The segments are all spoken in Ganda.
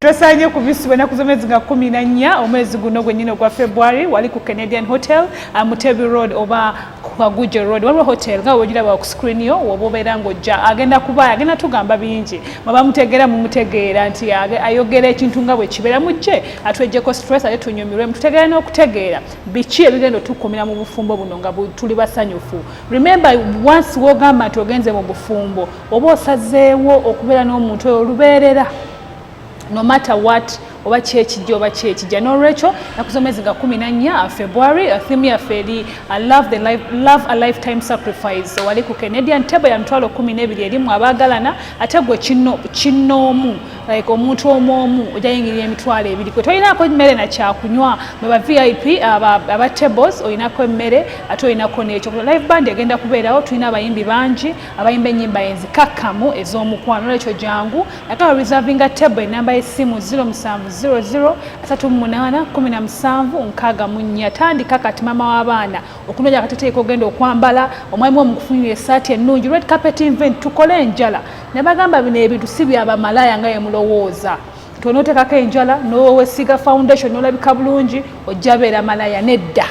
Twesanye ku visi bwenaku z'omwezi nga kumi na nnya omwezi guno gwennyini ogwa February wali ku Canadian Hotel uh, Mutebi Road oba Kaguje Road waliwo hotel nga wegiraba ku screen yo woba obeera ng'ojja agenda kuba agenda tugamba bingi mwaba mutegeera mumutegeera nti ayogera ekintu nga bwe kibeera mu kye atwejjeko stress ate tunyumirwe mututegeera n'okutegeera biki ebigenda otukumira mu bufumbo buno nga tuli basanyufu remember once wogamba nti ogenze mu bufumbo oba osazeewo okubeera n'omuntu oyo olubeerera no matter what oba kyekijja oba kyekijja nolwekyo nakuzomezi nga kumi nanya uh, february uh, thimu yaffe eri uh, love a lifetime sacrifice wali ku canadian table ya mitwalo kumi nebiri erimu abaagalana ate gwe kinnoomu like omuntu omu omu ojayingirira emitwalo ebiri kwe tolinako emmere nakyakunywa mweba vip aba tables olinako emmere ate olinako nekyo live band egenda kubeerawo tulina abayimbi bangi abayimba ennyimba enzikakkamu ez'omukwano olwekyo jangu nakaba reservinga table enamba y'essimu 0700381764 tandika kati maama w'abaana okunoonya akateteeka ogenda okwambala omwami wo mukufunira esaati ennungi red carpet invent tukole enjala nabagamba bino ebintu si byabamalaya nga yemulowooza tonotekako enjala nowesiga foundation nolabika bulungi ojja beera malaya nedda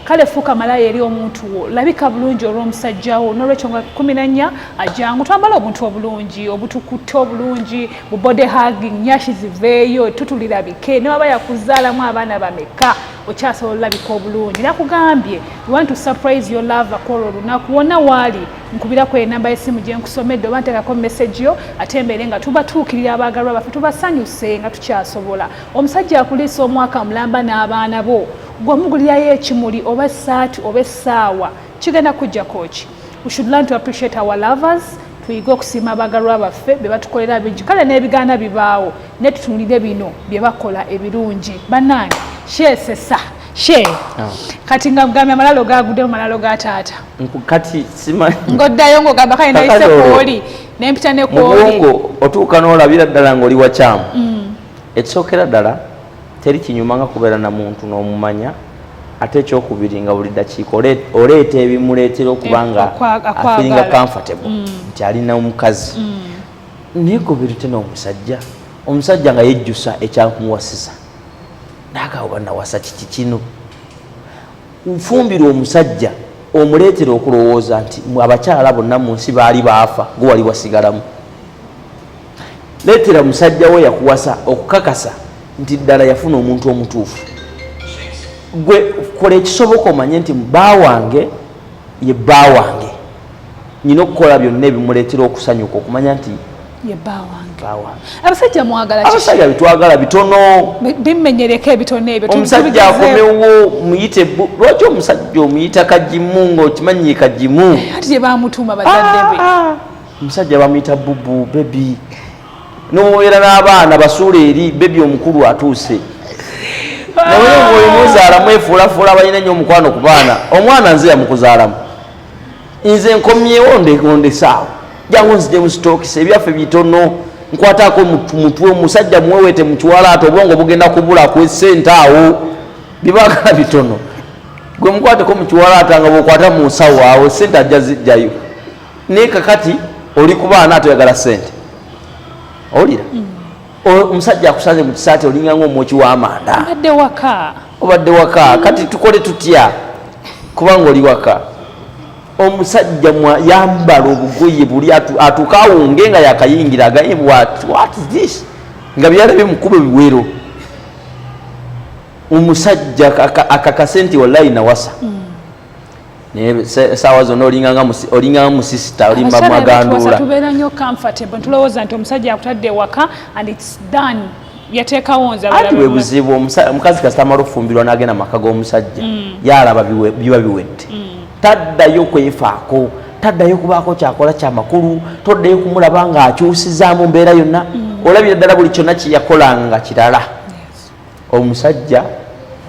kale fuuka malaya eri omuntu wo labika bulungi olw'omusajja wo n'olwekyo nga kumi na nnya ajangu twambala obuntu obulungi obutukutte obulungi bu body hugging nyashi ziveeyo tutulirabike ne waba yakuzaalamu abaana bameka okyasobola olabika obulungi nakugambye want to surprise your lover kwolwo olunaku wonna waali nkubirako enamba y'essimu gye nkusomedde oba nteekako message yo ate mbeere nga tubatuukirira abaagalwa baffe tubasanyuse nga tukyasobola omusajja akuliisa omwaka mulamba n'abaana bo gwe omugulirayo ekimuli oba esaati oba essaawa kigenda kujjako ki we should learn to appreciate our lovers tuyige okusiima abagalwa baffe be batukolera bingi kale n'ebigaana bibaawo naye tutunulire bino bye bakola ebirungi bannange sheesesa she ah. kati nga mugambye amalalo gaguddemu malalo ga taata kati simanyi ng'oddayo ng'ogamba kale nayise kwoli nempita ne kwoli otuuka n'olabira ddala ng'oli wakyamu mm. ekisookera ddala teri kinyuma nga kubeera na muntu n'omumanya ate ekyokubiri nga buli dakiika oleeta ebimuleetera okuba eh, nga afiringa comfortable mm. nti alina omukazi mm. naye kubirite n'omusajja omusajja nga yejjusa ekyamuwasiza nagaoba nawasa kiki kino nfumbirwa omusajja omuleetera okulowooza nti abakyala bonna mu nsi baali baafa gwewali wasigalamu Leetera musajja wo yakuwasa okukakasa nti ddala yafuna omuntu omutuufu. Gwe kola ekisoboka omanye nti bba wange ye bba wange. Nina okukola byonna ebimuleetera okusanyuka okumanya nti ye bba wange. Abasajja mwagala kiki? Abasajja bitwagala bitono. Bimenyereko ebitono ebyo. Omusajja akomewo muyite bu. Lwaki omusajja omuyita kagimu ng'okimanyi kagimu? Ati gye baamutuuma bazadde be. Ah, ah. omusajja bamuyita bubu bebi nomubeera n'abaana basuula eri bebi omukulu atuuse naye oyo muzaalamu efuulafuula balina nnyo omukwano ku baana omwana nze yamukuzaalamu nze nkomyewo ndekondesaawo jangu nzije musitokisa ebyaffe bitono nkwatako mutwe omusajja muwewete mukiwala ati obwongo bugenda kubula kwesente awo bibagala bitono gwe mukwateko mukiwala ata nga bwokwata munsawo awo sente ajja zijjayo naye kakati oli kubaana atoyagala sente owulira mm. omusajja akusanze mu kisaati olinga ngaomwoki w'amanda obadde waka obadde waka kati tukole tutya kubanga oli waka omusajja yambala obugoye buli atuuka awunge nga yakayingira agaye this nga byalabye mukuba ebiwero omusajja akakase nti wallayi nawasa mm. naye saawa zonna olinganga musisita olimba maganduula tubeera nyo comfortable ntulowooza nti omusajja akutadde ewaka and its done yateekawo nze ati bwe buzibu omukazi kasita amala okufumbirwa n'agenda mu maka g'omusajja mm. yalaba biba biwedde mm. taddayo kwefaako taddayo kubaako kyakola kyamakulu toddayo kumulaba ng'akyusizaamu mbeera yonna mm. olabira ddala buli kyonna kyeyakolanga kirala omusajja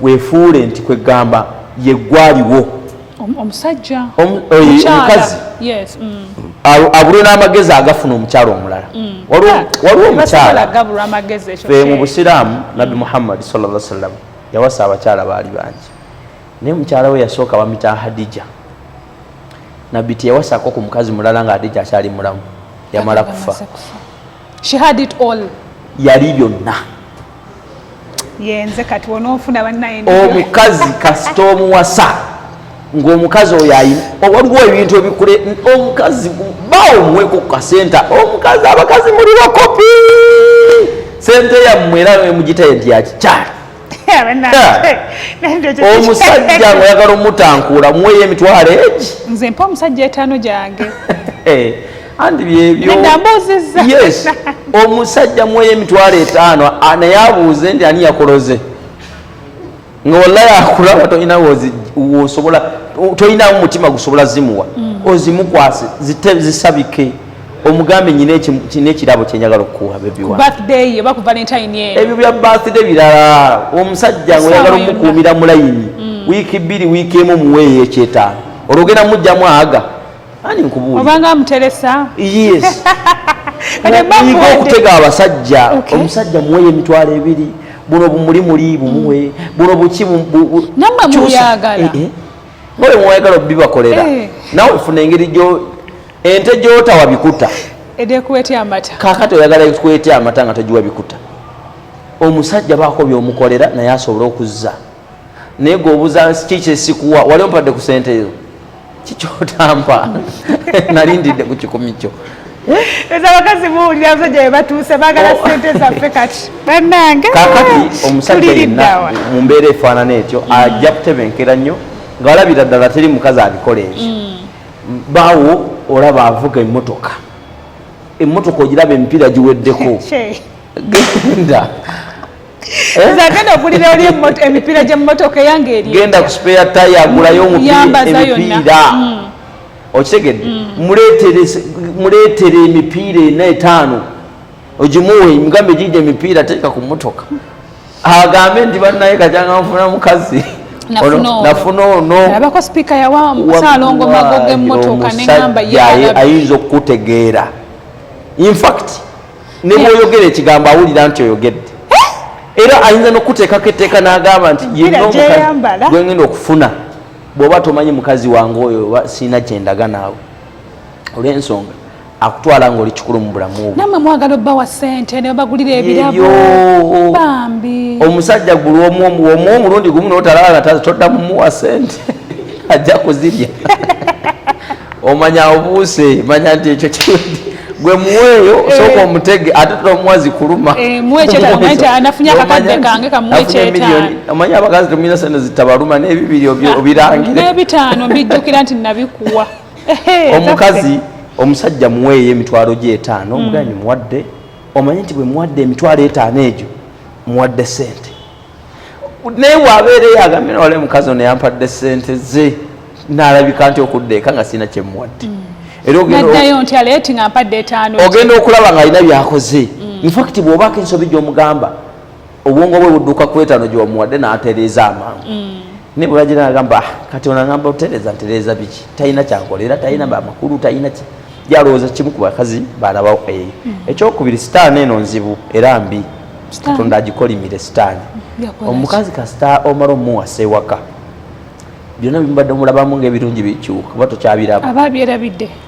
wefuule nti kwegamba yegwaliwo omusajja omukazi mm. abulwe n'amagezi agafuna omukyalo omulala mm. waliwo omukyala fe mu busiraamu nabbi mm. muhammadi salla sallam yawasa abakyala baali bangi naye mukyala we yasooka bamita hadija nabbi teyawasako ku mukazi mulala nga hadija akyali mulamu yamala kufa She had it all. Yali byonna. Yenze kati wonofuna bannaye. Omukazi kasita omuwasa ng'omukazi oyo ayina waliwo ebintu ebikule omukazi bawo omuweko ku kasenta omukazi abakazi muli bakopi sente yammwe era mugitaye nti yakikyali omusajja nga oyagala omutankuula muweyo emitwalo egi nze mpa omusajja etaano gyange eh, andi byebyoyes omusajja muweyo emitwalo etaano naye abuuze nti ani yakoloze nga wallayi akulaba tolina wosobola tolinamu mutima gusobola zimuwa mm. ozimukwase zisabike zi omugambe nyina ekirabo kyenyagala okukuwa ebyo bya birthday birala omusajja ngaoyagala omukuumira mulayini mm. wiiki bbiri wiiki emu muweeyo ekyetaano olwo ogenda mujjamu aga ani nkubuuliyige okutega abasajja omusajja muweeyo emitwalo ebiri buno bumuli muli bumuwe mm. buno buki eh, eh. oyo mwayagala obibakolera eh. nawe funa engeri ente gyotawa bikuta edekuwetya amata kakati oyagala kuwetya amata nga togiwa bikuta omusajja baako byomukolera naye asobole okuzza naye gweobuza nsi ki kyesikuwa wali ompadde ku sente ezo kikyotampa nalindidde ku kikumi kyo eza bakazi buwulira abasajja bebatuuse bagala oh. sente zaffe kati banange kakati omusajja yenna mu mbeera efaanana etyo ajja kutebenkera nnyo nga walabira ddala teri mukazi abikola ebyo mm. baawo olaba avuga emmotoka emmotoka ogiraba emipiira giweddeko genda zagenda eh? ogulira oli emipiira gyemmotoka eyange eri genda ku spare taya agulayo emipiira mm. okitegedde mm. muleetere emipiira ena etaano ogimuwe mugambe giija emipiira teeka ku mmotoka agambe nti banaye kajanga nfuna mukazi nafuna onoabako sipiika yawa musalongo mago gemotoka neamba ayinza okukutegeera infact nebwoyogera ekigambo awulira nti oyogedde eh? era ayinza nokuteekako etteeka nagamba nti yegenda okufuna bwoba tomanyi mukazi wange oyo sirina kyendaga naawe olw'ensonga akutwala ng'oli kikulu mu bulamu namwe mwagala obba wa ssente ne bagulira ebirabo bambi omusajja gulwomu omu omulundi gumu notalala todda mumuwa ssente ajja kuzirya omanya obuuse manya nti ekyo kiwedde gwe muweeyo eh. sooka omutege ate tomuwa zikuluma eh, omanyi abakazi temuyina sente zitabaluma n'ebibiri ah, obirangire n'ebitaano mbijjukira nti nabikuwa omukazi omusajja muweeyo emitwalo gye etaano hmm. omuganyi muwadde omanye nti bwe muwadde emitwalo etaano egyo muwadde sente naye wabeera eyagambe nawale mukazi ono yampadde sente ze nalabika nti okudda eka nga sirina kyemuwadde hmm. era ogenda okulaba nga alina byakoze hmm. infact bwobako ensobi gyomugamba obwongo bwe budduka ku etaano gye wamuwadde n'atereeza amangu mm. naye bwe bagira agamba ah, kati ono agamba otereeza ntereeza biki talina kyankola era talina mm. amakulu talina ki yalowooza kimu ku bakazi baalabawo eyo mm. ekyokubiri sitaani eno nzibu era mbi katonda agikolimire sitaani omukazi kasita omala omuwasa ewaka byonna bimubadde omulabamu ngaebirungi bikyuka kuba tokyabiraba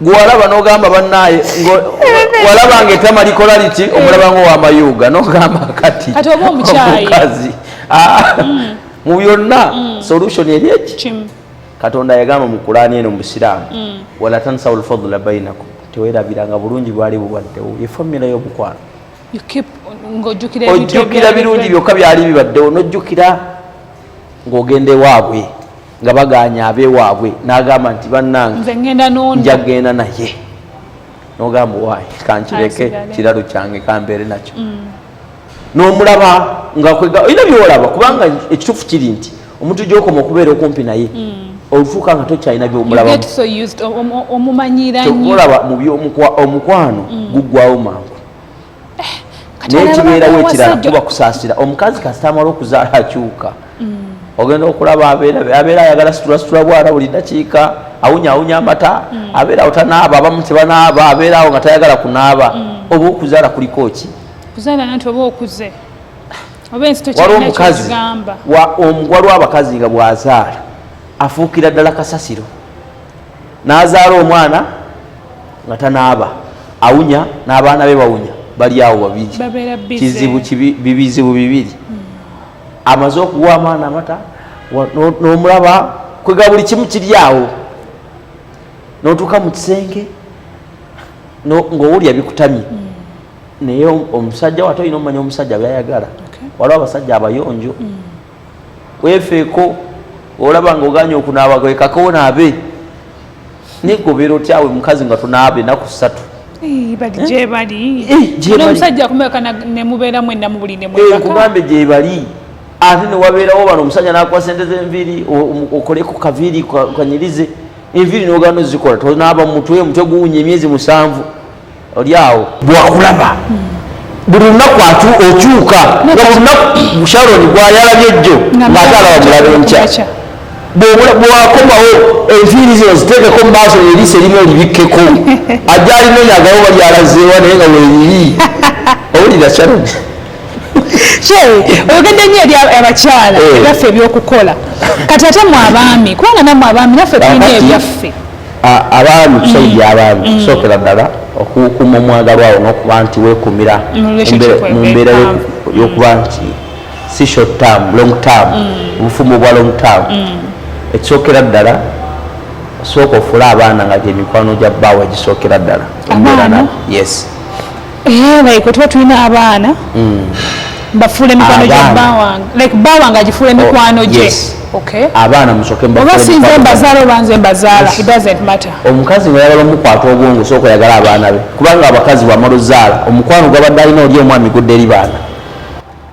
gwalaba nogamba banaye walaba nga etama likola liti omulaba nga owamayuga nogamba kati omukazi ah, mm. mu byonna mm. solution eri eki katonda yagamba mu kulaani eno mubusiraamu mm. wala tansawu lfadula bainakum tewerabiranga bulungi bwali bubaddewo ye famira yomukwano ojjukira birungi byokka byali bibaddewo nojjukira ng'ogenda ewaabwe nga bagaanya abewaabwe n'agamba nti bannange nja genda naye nogamba waayi kankireke kiralo kyange kambeere nakyo mm. n'omulaba ngaolina byolaba kubanga ekituufu kiri nti omuntu gyokoma okubeera okumpi naye mm. olufuuka nga tokyalina byomulabamubyomukwa omukwano mm. guggwawo mangu naye kibeerawo ekirala kuba kusaasira omukazi kasita amala okuzaala akyuka mm. ogenda okulaba abeera ayagala situlasitula bwana buli dakiika awunyawunya amata mm. abeera awo tanaaba abamu tebanaaba abeera awo nga tayagala kunaaba mm. oba okuzaala kuliko ki waliwo omukazi waliwo abakazi nga bwazaala afuukira ddala kasasiro n'azaala omwana nga tanaaba awunya n'abaana be bawunya bali awo babiri kizibu bibizibu bibiri hmm. amaze okuwa amaana amata n'omulaba kwega buli kimu kiri awo n'otuuka mu kisenge ng'owulya bikutamye hmm. naye omusajja wate olina omumanya omusajja byayagala waliwo abasajja abayonjo hmm. wefeeko olaba nga oganye okunaaba kwekako onaabe negobera otyawe mukazi nga tunaaba enaku ssatu nkugambye gyebali ate newabeerawo bano omusajja nakuwa sente zenviiri okoleku kaviiri kanyirize enviiri nogano zikola tonaaba mutwe omutwe guwunya emyezi musanvu oli awo bwakulaba buli lunaku okyuka nga buli lunaku sharoni gwayalabye jjo ngaate alaba mulabe nkya bwakomawo enviiri zino ziteekeko mu maaso eriiso erimu olibikkeko ajja alinonya agawo balyalazeewa naye nga weeriri owulira sharoni oyogedde nyo eri abakyala eh. ebyaffe ebyokukola kati ate mu abaami kubanga namwe abaami naffe tulina ebyaffe abaami tusajja mm. abaami mm. sookera ddala okukuuma omwagalwa awo n'okuba nti weekuumira mu mbeera y'okuba mm. nti si short term long term obufumbo bwa long term ekisookera ddala sooka ofule abaana nga gyemikwano gya bbaawo egisookera ddala embeera nabo yes Eh, like wetuba tulina abaana mm. bafuula emikwano gya bawange like bawange agifuula oh, emikwano gye abaana musokeobasinza embazaala oba nze embazaala it doesn't matter omukazi nga yagala omukwata obwongo sooka yagala abaana be kubanga abakazi bwamala ozaala omukwano gwabadde alina oli omwami gudde eri baana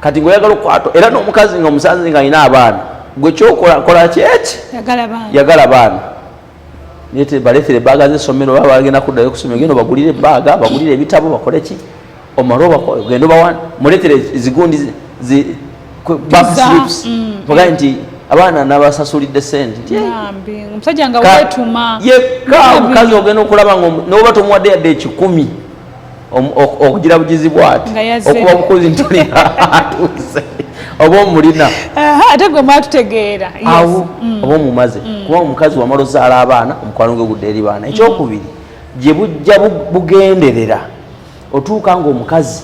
kati ngaoyagala okukwata era n'omukazi nga omusanze nga alina abaana gwe kyokola kola kyeki yagala baana balekere ebbaaga zesomero oba bagenda kuddayo kusomero genda obagulire ebbaaga bagulire ebitabo bakole ki omale ogenda obawa mulekere zigundi backslips mm. bagaye nti abaana nabasasulidde sente yekka omukazi ogenda okulaba noba tomuwadde yadde ekikumi okugira bugizi bwati okuba omukozi ntatuuse oba omulina ate gwe mwatutegeera awo mm. oba omumaze mm. kuba omukazi wamala ozaala abaana omukwano gwe gudde eri baana ekyokubiri gye bujja bugenderera otuuka ngaomukazi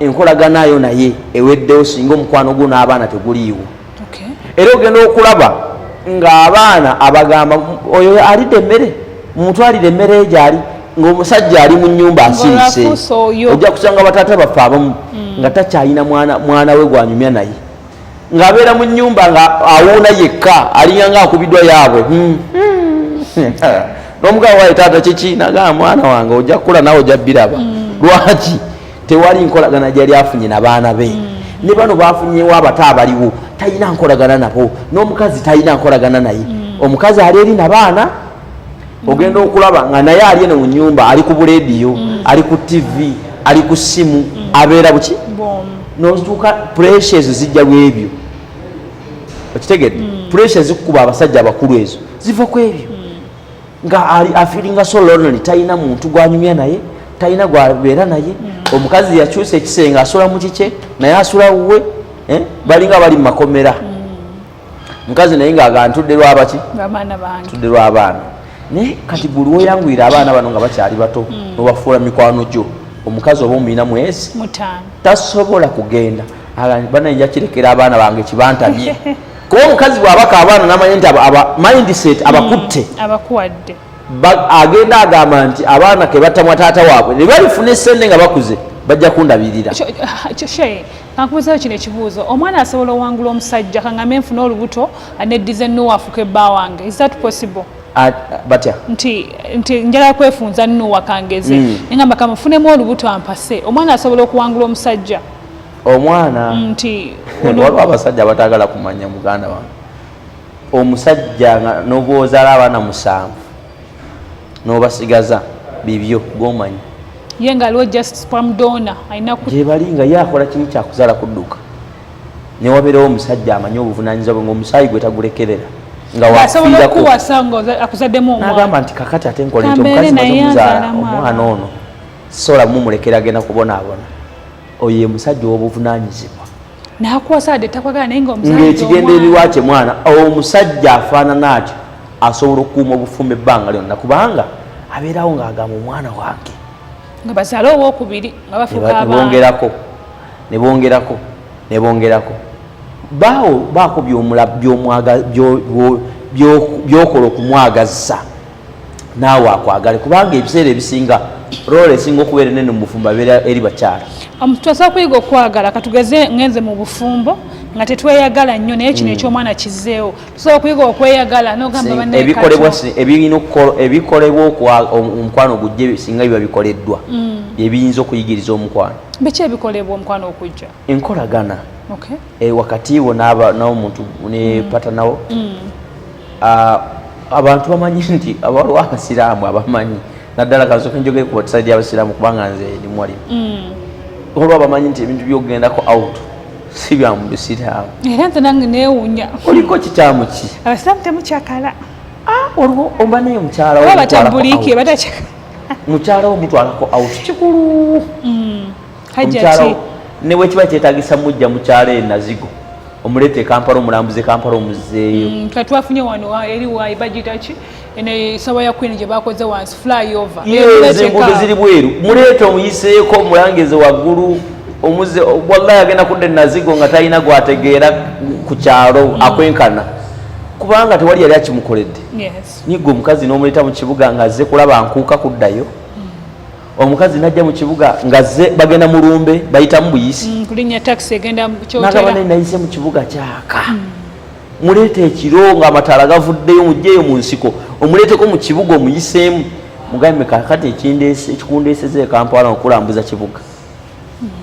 enkolagana yo naye eweddewo singa omukwano gwo n'abaana teguliiwo era ogenda okulaba ng'abaana abagamba oyo alidde emmere mumutwalire emmere egyali ng'omusajja ali mu nyumba asirise ojja kusanga bataata baffe abamu mm. nga takyalina mwana we gwanyumya naye ng'abeera mu nnyumba nga awuuna yekka alinga nga akubiddwa yaabwe hmm. Hmm. n'omugabo waye taata kiki nagaa mwana wange ojja kukula nawe ojja biraba hmm. lwaki tewali nkolagana gyali afunye na baana be ne bano bafunyewo abato abaliwo talina nkolagana nabo n'omukazi talina nkolagana naye omukazi ali eri na baana ogenda okulaba nga naye ali eno mu nyumba ali ku bulediyo mm. ali ku tv ali ku simu mm. abeera buki notuuka puresha ezo zijja lwebyo okitegedde mm. puresha ezikukuba abasajja abakulu ezo ziva ku ebyo nga ali afiringa so lonely talina muntu gwanyumya naye talina gwabeera naye omukazi yakyusa ekisenge asula mu kikye naye asula wuwe eh? balinga bali mu makomera mukazi naye nga aga ntudde lwabaki tudde lwabaana naye kati gwe lwoyanguyira abaana bano nga bakyali bato hmm. nobafuula mikwano gyo omukazi oba omuyina mwezi tasobola kugenda banaye njakirekera abaana bange kibantamye kuba omukazi bwabaka abaana namanya nti mindset hmm. abakutte agenda agamba nti abaana kebatamwa taata waabwe nebalifuna esente nga bakuze bajja kundabirira kankubuzeeyo kino ekibuuzo omwana asobola owangula omusajja kangame nfuna olubuto neddiza enuwa afuka ebba wange is that possible batya nti nti njala kwefunza nuwa kangeze mm. ngamba kamufunemu olubuto ampase omwana asobola okuwangula omusajja omwana mm, nti waliwo abasajja abatagala kumanya muganda wange omusajja nga nobwozala abaana musanvu nobasigaza bibyo gomanyi ye nga aliwo just spam donor alina gyebali nga ye akola kiri kyakuzaala kudduka newabeerawo omusajja amanyi obuvunanyizibwa bwe ngaomusaayi gwe tagulekerera ngaakuzaddemugamba nti kakati ate nkola nti omukazi mazomuzaala omwana ono sobola mumulekera agenda kubonaabona oyo ye musajja owobuvunanyizibwa ng'ekigendererwa kye mwana omusajja afaanana atyo asobola okukuuma obufumba ebbanga lyonna kubanga abeerawo ng'agamba omwana wange bongerako ne bongerako ne bongerako baawo baako by'okola okumwagazza naawe akwagale kubanga ebiseera ebisinga role esinga okubeera enene mu bufumbo abeera eri bakyala um, tusobola kuyiga okwagala katugeze ngenze mu bufumbo nga tetweyagala nnyo naye kino mm. ekyomwana kizeewo tusobola okuyiga okweyagala nogambaebikolebwa omukwano ogujja singa biba bikoleddwa mm. byebiyinza okuyigiriza omukwano biki ebikolebwa omukwano okujja enkolagana okay. e, wakati wo naba nawo muntu ne mm. pata nawo mm. uh, abantu bamanyi nti abaliwo abasiraamu abamanyi naddala kazoka njogere ku batisadi abasiraamu kubanga nze ndi mwali mm. olwo abamanyi nti ebintu byogendako out si bya mu bisiraamu era nze nange neewunya oliko kikyamu ki abasiraamu temukyakala ah, olwo oba naye mukyala wo mukyala wo mutwalako out kikulu mm. hajjati ne bwe kiba kyetagisa mujja mukyalo e nazigo omuleeta e kampala omulambuze kampala omuzzeeyo mm, tuba twafunye wano eri wayi bagiyita ki eno esawa ya queen gye bakoze wansi flyover enguudo ziri bweru muleeta omuyiseeko omulangeze waggulu omuze wallahi agenda kudda enazigo nga talina gwategeera ku kyalo mm. akwenkana kubanga tewali yali akimukoledde nyiga omukazi n'omuleeta mu kibuga nga azze kulaba nkuuka kuddayo omukazi najja mu kibuga ngazze bagenda mu lumbe bayitamu buyisi mm, kulinya taxi egenda mukyotera nayise mu kibuga kyaka mm. muleeta ekiro nga amataala gavuddeyo mujjeeyo mu nsiko omuleeteko mu kibuga omuyiseemu mugambe kakati ekindeese ekikundeeseza ekampala okulambuza kibuga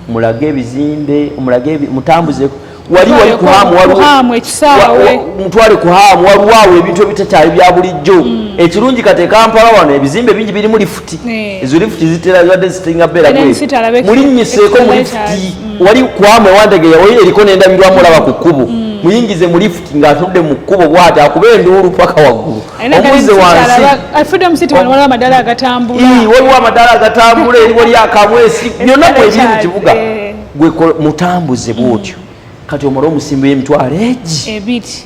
mulage ebizimbe mulage mutambuze wali wali kuhamu walihamu ekisaawe mutwale kuhamu waliwo awo ebintu ebitakyali bya bulijjo mm. ekirungi kati ekampala wano ebizimbe bingi birimu lifuti eh. ezo lifuti zitera zibadde zisinga beera mulinnyiseeko mu lifuti mm. wali kuhamu ewandegeya wali eriko n'endabirwamu olaba ku kkubo mm. muyingize mu lifuti ng'atunudde mu kkubo bwati akuba enduulu paka waggulu omuze wansi waliwo amadaala agatambula eri wali akamwesi byonna mwebiri mu kibuga eh. gwe mutambuze bwotyo mm. kati omala omusimbi w'emitwalo egi ebiti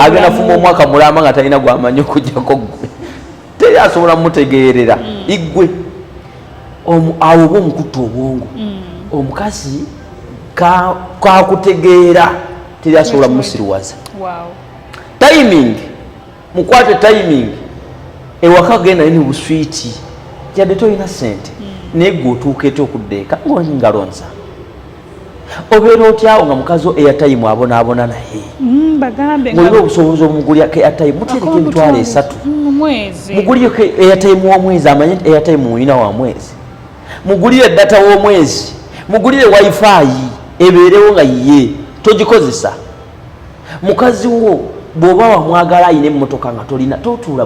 agenda fuma omwaka mulamba nga talina gwamanyi okujjako gwe teri asobola mutegeerera mm. igwe awo oba omukutta obwongo mm. omukazi kakutegeera teri asobola musiriwaza timing mukwate timing ewaka genda ni buswiti jade toyina sente mm. naye gwe otuuka ete okudda eka ngalingalonza obeera otyawo nga mukazi wo eyatayimu abonaabona naye mm, mulina obusobozi omugulyako eyatayimu mutereka emitwalo esatu mm, mugulyeko eyatayimu womwezi amanye nti eyatayimu mulina wa mwezi mugulire data womwezi mugulire wifi ebeerewo nga yiye togikozesa mukazi wo bwoba wamwagala ayina emmotoka nga tolina totuula